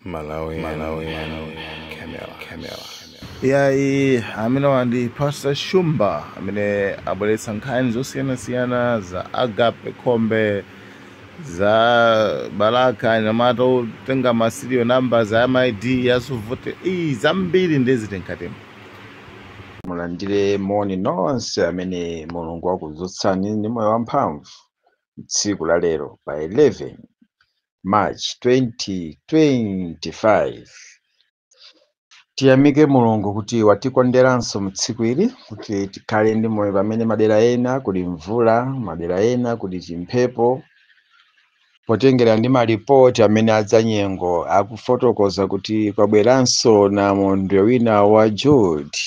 Malawian Camera. yayi ameneyo ndi pastor shumba amene abweretsa nkhani zosiyanasiyana za agape khombe za balaka anyamata otenga ma serial number a ma ID a zovotera zambiri ndeziti mkatimo mulandire moni nonse amene mulungu wakuzutsani ndi moyo wamphamvu tsiku la lero pa 11 March 2025 Tiyamike Mulungu kuti watikonderanso mu tsiku ili kuti tikhale ndi moyo pamene madera ena kuli mvula, madera ena kuli chimphepo. Potengera ndi malipoti amene azanyengo akufotokoza kuti kwabweranso namondwe wina wa Jude.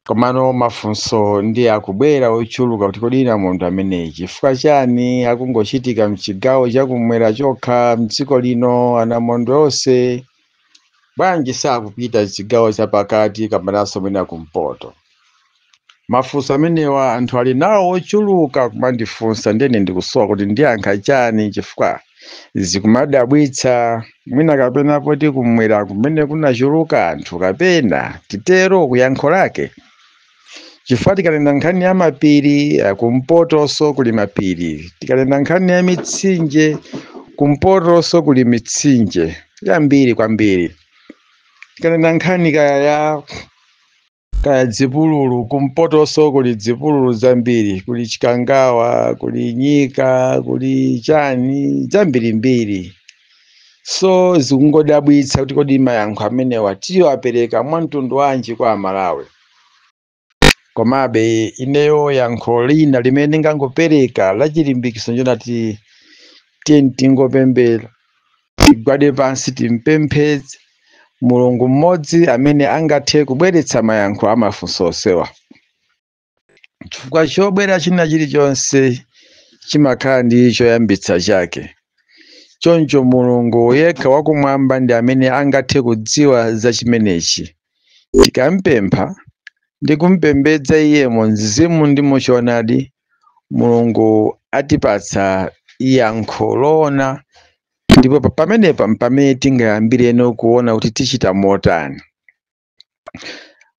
Komano mafunso ndiye akubwera ochuluka kuti kodi namondwe ameneyi chifukwa chani akungochitika mchigawo chakumwera chokha mdziko lino? Anamondwe onse bwanji sakupita chigawo chapakati kapenanso mwina kumpoto? Mafunso amenewa anthu ali nawo ochuluka kumandifunsa ndiye ine ndikusowa kuti ndiyankhe chani chifukwa Zikumadabwitsa, mwina kapena poti kumwera kumene kunachuluka anthu kapena, titero, kuyankha kwake. Chifukwa tikanena nkhani ya mapiri, a, kumpotonso kuli mapiri. Tikanena nkhani ya mitsinje, kumpotonso kuli mitsinje, yambiri kwambiri. Tikanena nkhani kaya ya. kaya dzipululu kumpotonso kuli dzipululu zambiri kuli chikangawa kuli nyika kuli chani zambirimbiri so zikungodabwitsa kuti kodi mayankho amenewa tiwapereka mwa mtundu wanji kwa amalawi komabe ineyo yankho lina limene ndingangopereka la chilimbikitso nchonati tiyeni tingopemphera tigwade pansi timpemphe mulungu mmodzi amene angathe kubweretsa mayankho a mafunso onsewa chifukwa chobwera china chilichonse chimakhala ndi choyambitsa chake choncho mulungu yekha wakumwamba ndi amene angathe kudziwa za chimenechi Tikampempha ndi kumpembedza iye mu mzimu ndi mu choonadi, Mulungu atipatsa yankho loona ndipo pa- pamenepa mpamene tingayambireno kuona kuti tichita motani.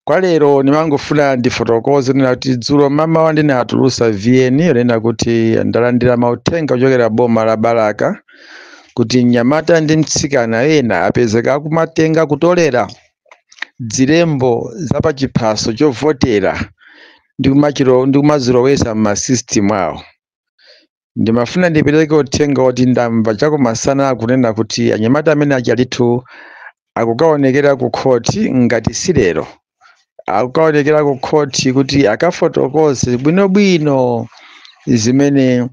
Kwa lero ndimangofuna ndifotokoze kunena kuti dzulo mmawa ndinatulusa VN yonena kuti ndalandira mauthenga kuchokera boma la Balaka kuti mnyamata ndi mtsikana ena apezeka akumatenga kutolera dzilembo za pa chiphaso chovotera ndi kumazilowesa m'masystem awo ndimafuna ndipereke uthenga woti ndamva chakumasana akunena kuti anyamata amene achalithu akukaonekera ku khoti ngati si lero akukaonekera ku khoti kuti akafotokoze bwinobwino zimene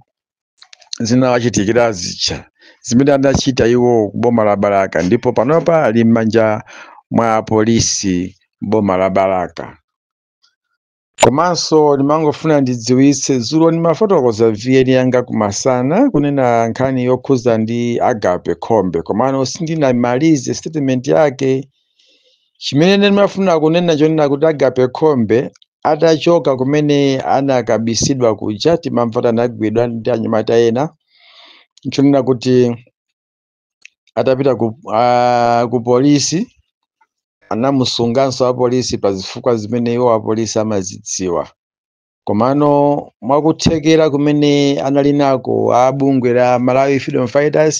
zinawachitikira zija zimene anachita iwo ku boma la Balaka ndipo panopa ali m'manja mwa apolisi m'boma la Balaka. Komanso ndimangofuna ndidziwitse dzulo ndimafotokoza VN yanga kumasana kunena nkhani yokhuza ndi Agape Khombe komano sindinamalize statement yake chimene ndimafuna kunena chonena kuti agape khombe atachoka kumene anakabisidwa kuja timamva kuti anagwidwa ndi anyamata ena nchonena kuti atapita ku polisi anamusunganso apolisi pa zifukwa zimene iwo apolisi amazidziwa komano mwakuthekera kumene anali nako a bungwe la malawi freedom fighters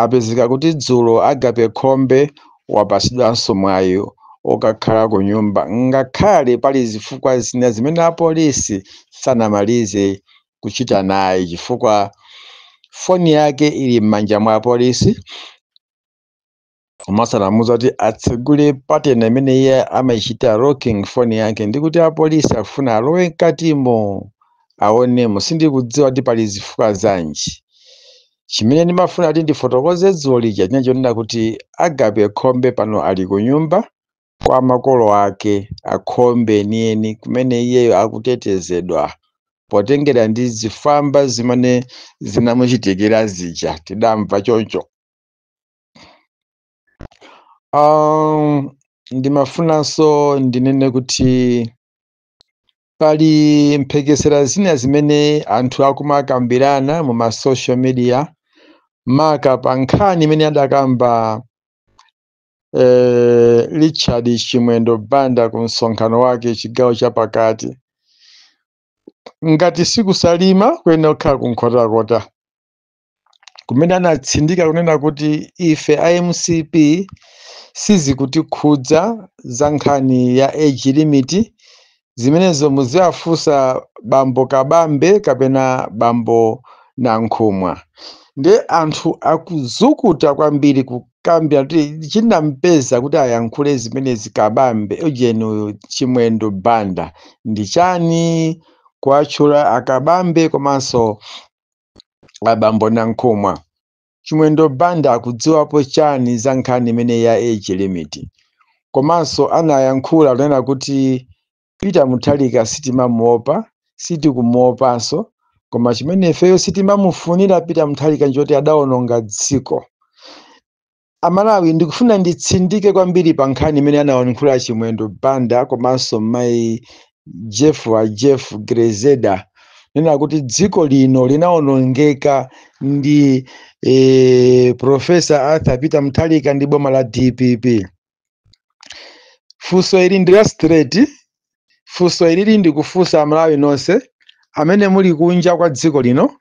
apezeka kuti dzulo agape khombe wapasidwanso mwayi okakhala ku nyumba ngakhale pali zifukwa zina zimene apolisi sanamalize kuchita naye chifukwa foni yake ili m'manja mwa apolisi komanso anamuuza kuti atsegule pattern imene iye amaichita locking phone yake ndi kuti apolisi akufuna alowe mkatimo aonemo sindikudziwa kuti pali zifukwa zanji chimene ndimafuna kuti ndifotokoze dzulo lija chinali chonena kuti agape khombe pano ali ku nyumba kwa makolo ake akhombe enieni kumene iyeyo akutetezedwa potengera ndi zifwamba zimene zinamuchitikira zija tidamva choncho Um, ndimafunanso ndinene kuti pali mphekesera zina zimene anthu akumakambirana mu ma social media maka pa nkhani imene adakamba eh, Richard Chimwendo Banda ku msonkhano wake chigawo cha pakati ngati si ku Salima kuyenera kukhala ku Nkhotakota kumene anatsindika kunena kuti ife a mcp sizikutikhudza za nkhani ya age limit zimenezo muziwafunsa bambo kabambe kapena bambo nankhumwa nde anthu akuzukuta kwambiri kukambira kuti chinampeza kuti ayankhule zimenezi kabambe ujeni uyu chimwendo banda ndi chani kuwatchula akabambe komanso abambo nankhumwa chimwendo banda akudziwapo chani za nkhani imene ya age limit komanso anayankhula kunena kuti peter Mutharika sitimamuopa sitikumuopanso koma chimene ifeyo sitimamufunira peter Mutharika nchoti adaononga dziko Amalawi ndikufuna nditsindike kwambiri pa nkhani imene anayankhula achimwendo banda komanso mayi jeff wa jeff Grezelder kunena kuti dziko lino linaonongeka ndi e, profesa arthur peter Mutharika ndi boma la dpp funso ili ndi la straight funso ilili ndikufunsa amalawi nonse amene muli kunja kwa dziko lino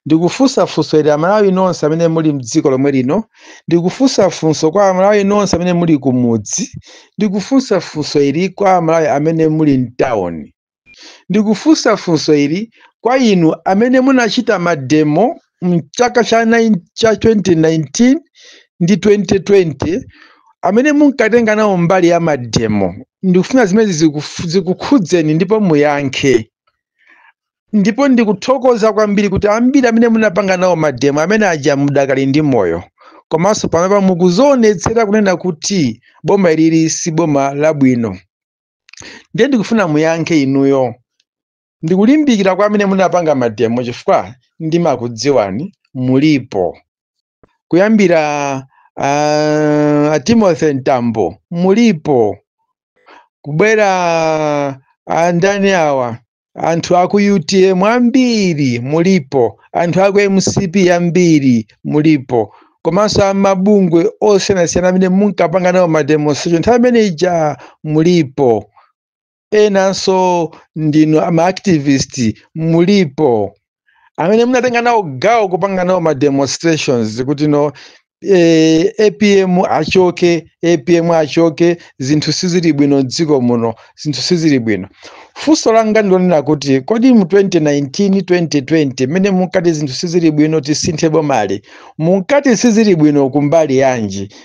ndikufunsa funso ili amalawi nonse amene muli mdziko lomwe lino ndikufunsa funso kwa amalawi nonse amene muli kumudzi ndikufunsa funso ili kwa amalawi amene muli mtawuni ndikufunsa funso ili kwa inu amene munachita mademo mchaka cha, cha 2019 ndi 2020 amene munkatenga nawo mbali ya mademo ndikufuna zimene zikukhudzeni ndipo muyankhe ndipo ndikuthokoza kwambiri kuti ambiri amene munapanga nawo mademo amene aja mudakali ndi moyo komanso panopa mukudzionetsera kunena kuti boma ilili si boma labwino ndiye ndikufuna muyankhe inuyo Ndikulimbikira kwa amene munapanga mademo chifukwa ndimakudziwani mulipo kuyambira uh, a Timothy Mtambo mulipo kubwera andani awa anthu aku UTM ambiri mulipo anthu aku MCP ambiri mulipo komanso amabungwe osiyanasiyana amene munkapanga nawo mademonstration nthawi imene ija mulipo enanso ndinu ama activist mulipo amene munatenga nawo gawo kupanga nawo ma demonstrations kuti no eh, apm achoke apm achoke zinthu sizili bwino mdziko muno zinthu sizili bwino funso langa ndilonena kuti kodi mu 2019 2020 mmene munkati zinthu sizili bwino tisinthe bomali munkati sizili bwino kumbali yanji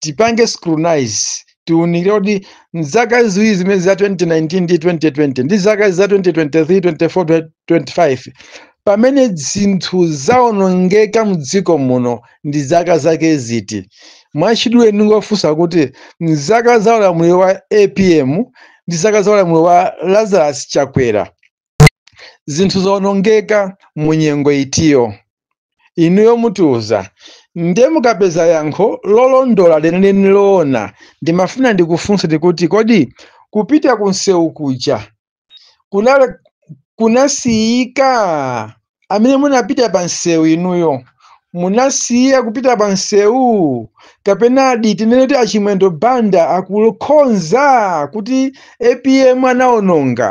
tipange scrutinize tiunikire kuti mzaka ziwiri zimene za 2019 ndi 2020 ndi zaka za 2023 24 25 pamene zinthu zaonongeka mdziko muno ndi zaka zake ziti mwachidule ndingofunsa kuti mzaka za ulamuliro wa apm ndi zaka za ulamuliro wa lazarus chakwera zinthu zaonongeka mu nyengo itiyo Inuyo mutiuza nde mukapeza yankho lolondola lenileni loona ndimafuna ndikufunseni kuti kodi kupita ku nsewu kuja kunasiyika? Amene munapita pa nsewu inuyo munasiya kupita pa nsewu kapenadi tinene kuti a Chimwendo Banda akukhonza kuti apm anaononga?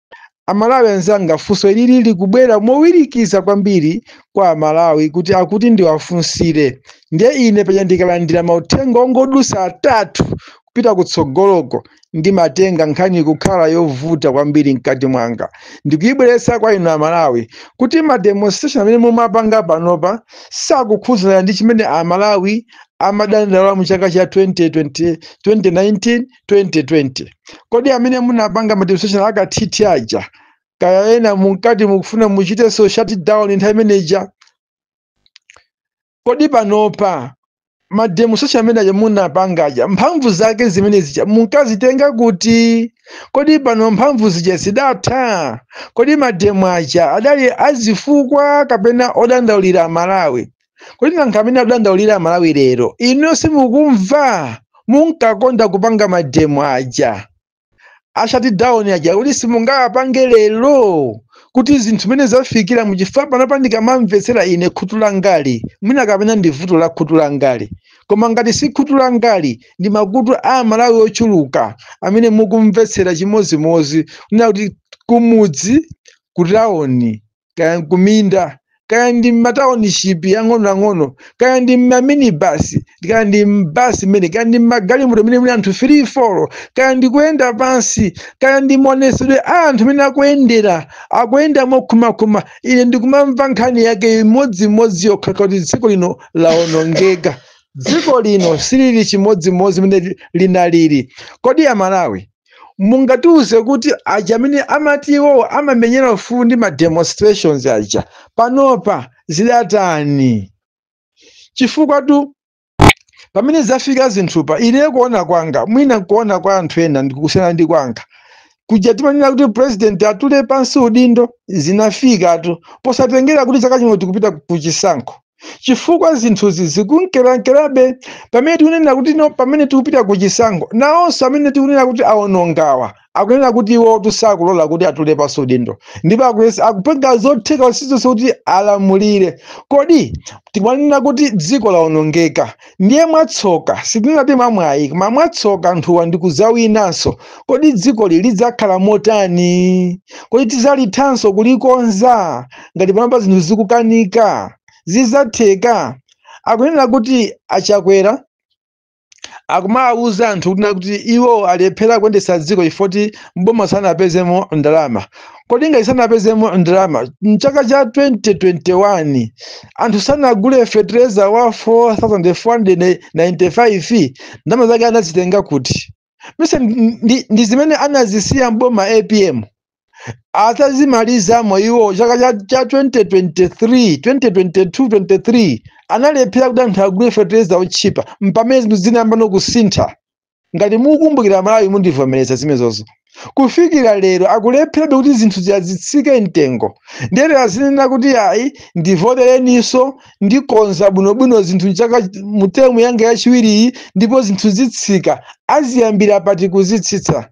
Amalawi anzanga funso ilili likubwera mowirikiza kwambiri kwa amalawi kuti akuti ndiwafunsire ndiye ine paja ndikalandira mauthenga ongodutsa atatu kupita kutsogoloko ndimatenga nkhani kukhala yovuta kwambiri mkati mwanga ndikuyibweretsa kwa inu amalawi kuti ma demonstration amene mumapanga panopa sakukhudzana ndi chimene amalawi amadandaula mu chaka cha 2020 2019 2020 kodi amene munapanga mademonstration akathithi aja kaya ena munkati mukufuna muchitenso shutdown nthawi imeneja kodi panopa mademonstration amene aja munapanga aja mphamvu zake zimene zija munkazitenga kuti kodi pano mphamvu zija zidatha kodi mademo aja adali azifukwa kapena odandaulira amalawi kodi nanga amene akudandaulira amalawi lero ino simukumva munkakonda kupanga mademo aja a shutdown aja kuti simungawapange lero kuti zinthu zimene zafikira muchifukwa panopa ndikamamvetsera ine khutu langali mwina kapena ndi vuto la khutu langali koma ngati si khutu langali ndi makutu a amalawi ochuluka amene mukumvetsera chimodzimodzi kunena kuti kumudzi kutawoni kaya nkuminda kaya ndi mmatauniship ang'onoang'ono kaya ndi mmaminibasi kaya ndi mbasi mmene kaya ndi mmagalimoto mmene muli anthu three four kaya ndi kuyenda pansi kaya ndi maonesedwe a anthu amene akuyendera akuyenda mokhumakhuma ine ndikumamva nkhani yake imodzimodzi yokha kuti dziko lino laonongeka dziko lino silili chimodzimodzi mmene linalili kodi amalawi mungatiuze kuti aja amene amati iwowo amamenyera ufulu ndi ma demonstrations aja panopa zidatani chifukwatu pamene zafika zinthupa ine kuona kwanga mwina kuona kwa anthu ena ndikusiyana ndi kwanga kuja timanena kuti president atule pansi udindo zinafikatu posatengera kuti chaka chino tikupita kuchisankho chifukwa zinthuzi zikunkerankerabe pamene tikunena kuti no pamene tikupita ku chisankho nawonso amene tikunena kuti awonongawa akunena kuti iwotu sakulola kuti atule pansi udindo ndipo akupanga zotheka zilizonse kuti alamulire kodi tikumanena kuti dziko lawonongeka ndiye mwatsoka sitingati mwamwayi koma mwatsoka anthuwa ndi kudzawinanso kodi dzikoli lidzakhala motani kodi tidzalithanso kulikonza ngati panopa zinthu zikukanika zidzatheka akunena kuti achakwera akumawuza anthu kuti iwo alephera kuyendetsa dziko chifukwa mboma sanapezemo ndalama kodi ngati sanapezemo ndalama mchaka cha 2021 anthu sanagule fetereza wa 4495 ndalama zake anazitenga kuti si ndi, ndi zimene anazisiya mboma apm atazimalizamo iwo chaka cha, cha 2023 2022 23 analephera kuti anthu agule fetereza otchipa mpamene zinthu zinayamba kusintha ngati mukukumbukira amalawi mundivomereza zimenezo kufikira lero akulepherabe kuti zinthu ziyazitsike mtengo ndiye lero azinena kuti ayi ndivotereninso ndikonza bwinobwino zinthu mchaka mu termu yanga yachiwiriyi ndipo zinthu zitsika aziyambira pati kuzitsitsa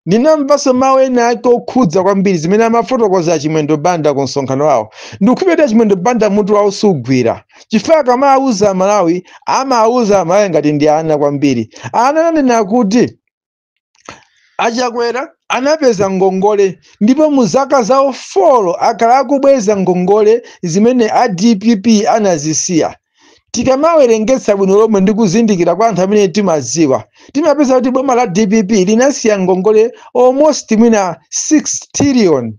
Ndinamvanso mawu ena ake okhudza kwambiri zimene amafotokoza a Chimwendo Banda ku msonkhano wawo. Ndikukhulupirira kuti a Chimwendo Banda mutu wawo sugwira chifukwa akamawuza Amalawi, amawuza Amalawi ngati ndi ana kwambiri. Ana ananena kuti a Chakwera anapeza ngongole ndipo mu zaka zawo 4 akhala akubweza ngongole zimene a dpp anazisiya. tikamawerengetsa bwino lomwe ndi kuzindikira kwa anthu amene timadziwa timapeza kuti boma la dpp linasiya ngongole almost mwina 6 trillion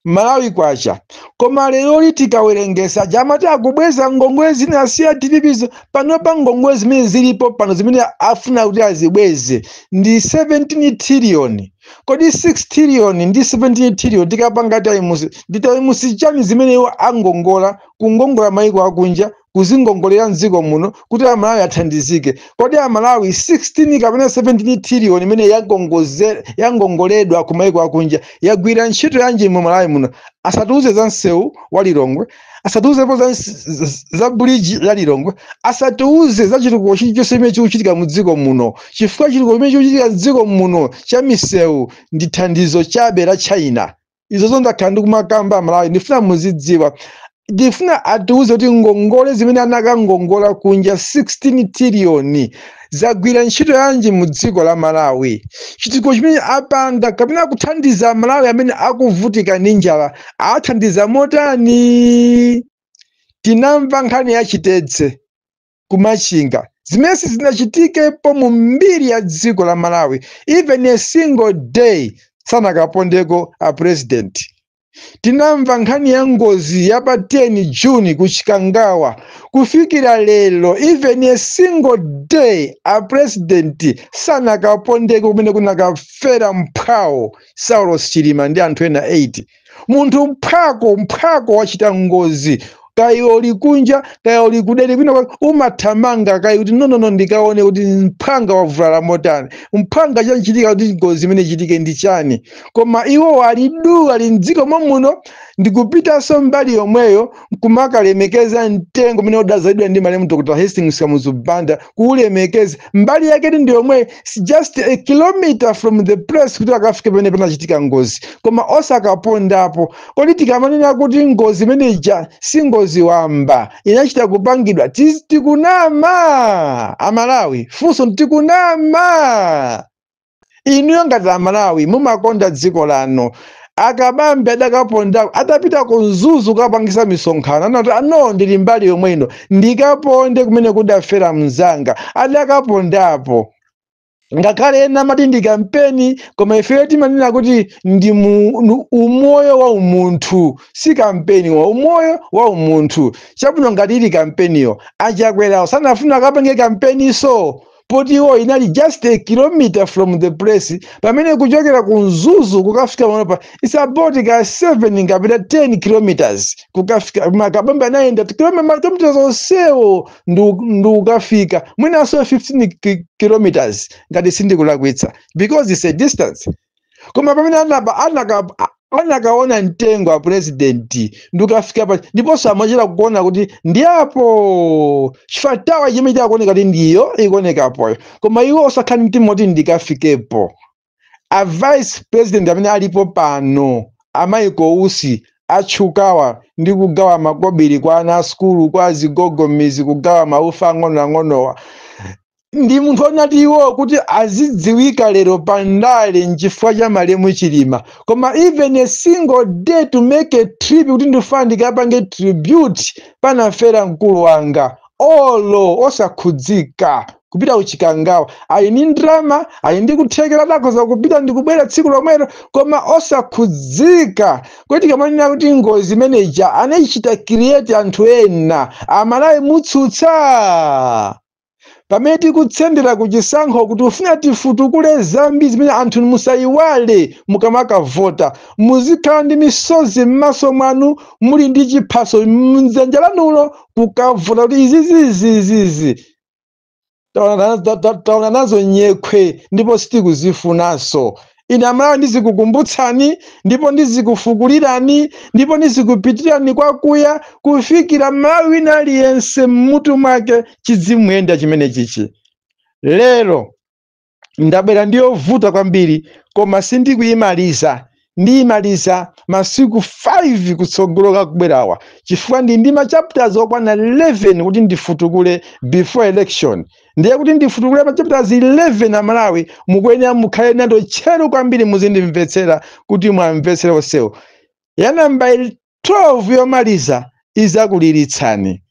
malawi kwacha koma leroli tikawerengesa ija amati akubweza ngongole zinasiya dppizo panopa ngongole zimene zilipo pano zimene afuna kuti azibweze ndi 17 trillion kodi 6 trillion ndi 17 trillion tikapanga taimusi ndi taimusi chani zimene iwo angongola kungongola maiko akunja kuzingongolera mdziko muno kuti amalawi athandizike kodi amalawi 16 kapena 17 trillion imene yagongoze- yangongoledwa ku maiko akunja yagwira ntchito yanji mu malawi muno asatiuze za msewu wa lilongwe asatiuzepo za, za, za buliji la lilongwe asatiuze za chitukuko chilichonse chimene chikuchitika mu dziko muno chifukwa chitukuko chimene chikuchitika mdziko muno cha misewu ndi thandizo chabe la china izozo ndakhala ndikumakamba amalawi ndifuna muzidziwa ndifuna atiuze kuti ngongole zimene anakangongola kunja 16 tiliyoni zagwira ntchito yanji mu dziko la malawi chitukuko chimene apanga kapena kuthandiza amalawi amene akuvutika ndi njala athandiza motani tinamva nkhani ya chitedze ku machinga zimene sizinachitikepo mu mbiri ya dziko la malawi even a single day sanakapondeko a president tinamva nkhani ya ngozi ya pa 10 juni ku chikangawa kufikira lero even a single day a president sanakapondeko kumene kunakafera mphwawo saulos chilima ndi anthu ena 8 munthu mphwako mphwako wachita ngozi kaya uli kunja kaya uli kudera kwina kwake umathamanga kaya kuti nonono ndikaone kuti mphwanga wavulala motani mphwanga chachitika kuti ngozi imeneyi ichitike ndi chani koma iwo ali du ali mdziko momuno ndikupitanso mbali yomweyo nkumakalemekeza mtengo umene udazalidwa ndi malemu dr hastings kamuzu banda kuulemekeza mbali yake ndi yomweyi just a kilometer from the place kuti akafike pamene panachitika ngozi koma osakapondapo kodi tikamanena kuti ngozi imene ija si ngozi wamba inachita kupangidwa tiz- tikunama amalawi funso tikunama inuyo ngati amalawi mumakonda dziko lanu akabambe adakapondako atapita ku mzuzu kukapangisa misonkhano anati a no ndili mbali yomwe ino ndikaponde kumene kudafera mnzanga adakapondapo ngakhale ena amati ndi kampeni koma ifeyo timanena kuti ndi mu- nu- umoyo wa umunthu si kampeni wa umoyo wa umunthu chabwino ngati ili kampeniyo achakwerawo sanafuna akapange kampeniso poti iwo inali just a kilometer from the place pamene kuchokera ku mzuzu kukafika panopa its about 7 kapena 10 kilometers kukafika koma akabambe anayenda kilome- makilometers onsewo ndu- ndikukafika mwinanso 15 ki- kilometers ngati sindikulakwitsa because its a distance koma pamene anaba anaka anakaona mtengo a president ndikafika pa ndiponso amachita kuona kuti ndi apo chifatawa chimene chakuoneka kuti ndiyo ikuonekapoyo koma iwo osakhala ndi mtima woti ndikafikepo a vice president amene alipo pano a michael usi atchukawa ndi kugawa makobiri kwa ana asukulu kwa azigogo mmidzi kugawa maufa ang'onoang'onowa ndi munthu wonati iwo kuti azidziwika lero pa ndale nchifukwa cha malemu chilima koma even a single day to make a trip kuti ndifuna ndikapange tribute panafera mkulu wanga olo osakhudzika kupita kuchikangawa ali ndi ndalama ali ndi kuthekera atakhoza kupita ndikubwera tsiku lomwero koma osakhudzika kodi tikamanena kuti ngozi imeneja anaichita create anthu ena amalawi mutsutsa pamene tikutsendera ku chisankho kuti kufuna tifutukule zambiri zimene anthu musayiwale mukamakavota muzikhala ndi misozi m'maso mwanu muli ndi chiphaso mdzanja lanulo kukavota kuti izizizizizi taona nazo nyekhwe ndipo sitikuzifunanso ine amalawi ndizikukumbutsani ndipo ndizikufukulirani ndipo ndizikupitirani kwakuya kufikira malawi wina aliyense mmutu mwake chidzimuyenda chimene chichi lero ndabwera ndiyovuta kwambiri koma sindikuyimaliza ndiyimaliza masiku 5 kutsogoloku akubwerawa chifukwa ndi ndi machapters okwana 11 kuti ndifutukule before election ndiye kuti ndifutukule machapters 11 amalawi mukuyenera mukhale nawo tcheru kwambiri muzindimvetsera kuti mwamvetsere onsewo ya namba 12 yomaliza izakuliritsani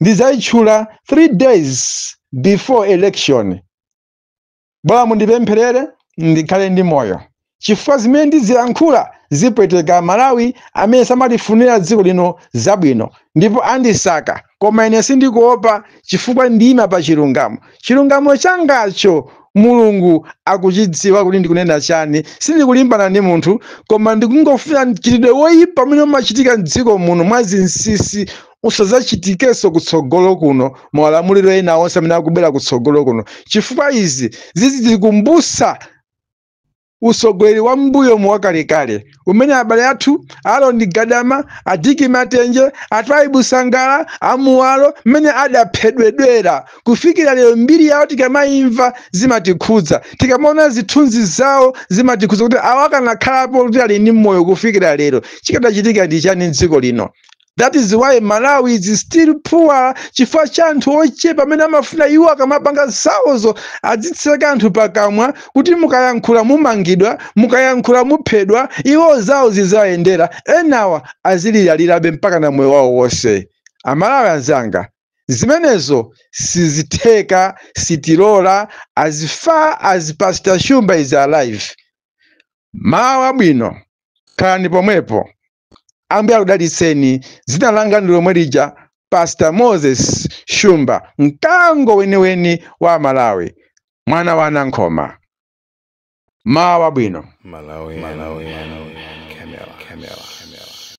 ndizayitchula 3 days before election bola mundipempherere ndikhale ndi moyo chifukwa zimene ndizilankhula zipweteka malawi amene samalifunira dziko lino zabwino ndipo andisaka koma ine sindikuopa chifukwa ndiyima pa chilungamo chilungamo changacho mulungu akuchidziwa kuti ndikunena chani sindikulimbana ndi munthu koma ndikungofuna mchitidwe woyipa umene umachitika mdziko muno mwa zinsisi usadzachitikenso kutsogolo kuno maulamuliro ena onse amene akubwera kutsogolo kuno chifukwa izi zizitikumbusa utsogoleri wa mmbuyomu wakalekale umene abale athu aroni gadama adiki matenje atwaibu sangala amuwalo mmene adaphedwedwera kufikira lero mbiri yawo tikamayimva zimatikhudza tikamaona zithunzi zawo zimatikhudza kuti awa akanakhalapo kuti ali ndi moyo kufikira lero chikadachitika ndi chani m'dziko lino that is why malawi is still poor chifukwa cha anthu ochepa amene amafuna iwo akamapanga zawozo adzitseka anthu pakamwa kuti mukayankhula mumangidwa mukayankhula muphedwa iwo zawo zizayendera enawa aziliralirabe mpaka na moyo wawo wonse amalawi anzanga zimenezo sizitheka sitilola as far as pastor shumba is alive mawa abwino khalani pomwepo ambuye akudalitseni dzina langa ndi lomwe lija pastor moses shumba mkango weniweni wa malawi mwana wa nankhoma mawa wabwino